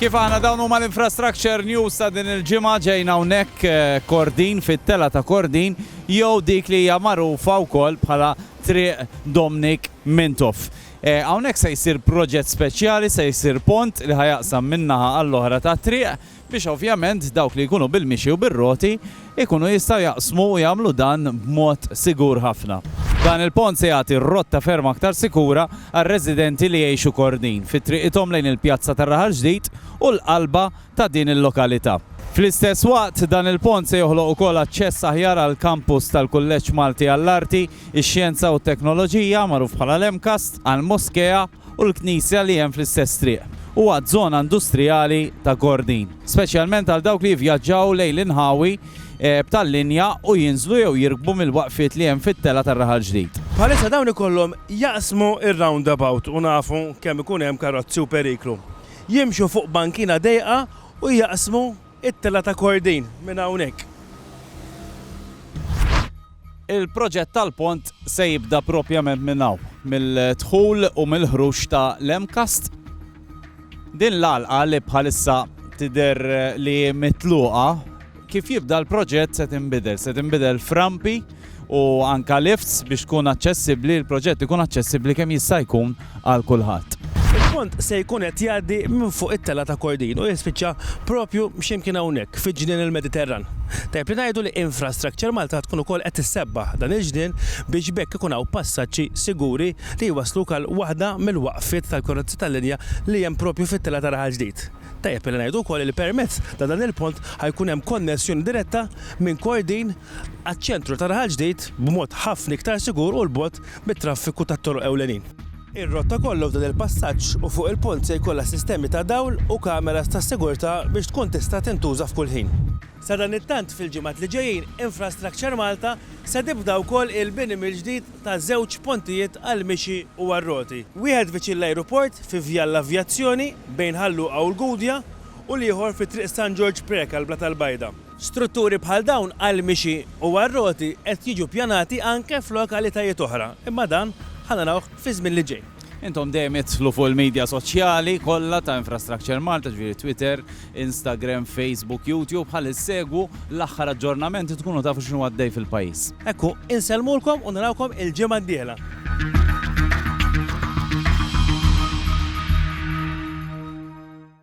Kif aħna dawn huma l-infrastructure news ta' din il-ġimgħa ġejna hawnhekk eh, Kordin fit-tela ta' Kordin jew dik li hija magħrufa wkoll bħala Triq Domnik Mintoff. Eh, hawnhekk se jsir proġett speċjali, se jsir pont li ħajaqsam minnaħa għall-oħra ta' triq biex ovvjament dawk li jkunu bil-mixi u bir-roti jkunu jistgħu jaqsmu u jagħmlu dan b'mod sigur ħafna. Dan il-pont se jagħti rotta ferm aktar sikura għar-residenti li jgħixu Kordin fi triqithom lejn il-pjazza tar-Raħal Ġdid u l-qalba ta' din il-lokalità. Fl-istess waqt, dan il-pont se joħloq ukoll aċċess aħjar għall-kampus tal-Kulleġġ Malti għall-Arti, ix-Xjenza u t-Teknoloġija, magħruf bħala l-MCAST, għall-Moskea, u l-knisja li hemm fl-istess triq, u għaz-zona industrijali ta' Gordin, speċjalment għal dawk li jivjaġġaw lejn l-inħawi b'tal-linja u jinżlu jew jirkbu mill-waqfiet li hemm fit-telgħa tar-raħal ġdid. Bħalissa dawn ikollhom jaqsmu r-roundabout u nafu kemm ikun hemm karozzi u periklu. Jimxu fuq bankina dejqa u jaqsmu t-telgħa ta' Gordin minn hawnhekk. Il-proġett tal-pont se jibda propjament minn hawn, mill-dħul u mill-ħruġ ta' l-MCAST. Din l-għalqa li bħalissa tidher li hi mitluqa, kif jibda l-proġett se tinbidel, se tinbidel f'rampi u anke lifts biex tkun aċċessibbli, il-proġett ikun aċċessibbli kemm jista' jkun għal kulħadd. Il-pont se jkun qed jgħaddi minn fuq it-telgħa ta' Kordin u jispiċċa proprju xi mkien hawnhekk fiġ-ġnien il-Mediterran. Tajjeb li ngħidu li Infrastructure Malta tkun ukoll qed issebbaħ dan il-ġnien biex b'hekk ikun hawn passaġġi siguri li jwassluk għal waħda mill-waqfiet tal-karozzi tal-linja li hemm proprju fit-telgħa ta' Raħal Ġdid. Tajjeb li ngħidu wkoll li permezz ta' dan il-pont ħa jkun hemm konnessjoni diretta minn Kordin għaċ-ċentru ta' Raħal Ġdid b'mod ħafna iktar sigur u 'l bogħod mit-traffiku tat-toroq ewlenin. Ir-rotta kollha f'dan il-passaġġ u fuq il-pont se jkollha sistemi ta' dawl u kameras ta' sigurtà biex tkun tista' tintuża f'kull ħin. Sadanittant fil-ġimgħat li ġejjin Infrastructure Malta se tibda wkoll il-bini mill-ġdid ta' żewġ pontijiet għall-mixi u għar-roti, wieħed viċin l-ajruport fi Vjal l-Avjazzjoni bejn Ħal Luqa u l-Gudja u l-ieħor fi Triq San Ġorġ Preca l-Blata l-Bajda. Strutturi bħal dawn għall-mixi u għar-roti qed jiġu ppjanati anke f'lokalitajiet oħra, imma dan ħa narawh fiż-żmien li ġej. Intom dejjem idħlu fuq il-media soċjali kollha ta' Infrastructure Malta, ġifieri Twitter, Instagram, Facebook, YouTube, ħalli ssegwu l-aħħar aġġornamenti tkunu tafu x'inhu għaddej fil-pajjiż. Hekk hu, insellmulkom u narawkom il-ġimgħa d-dieħla.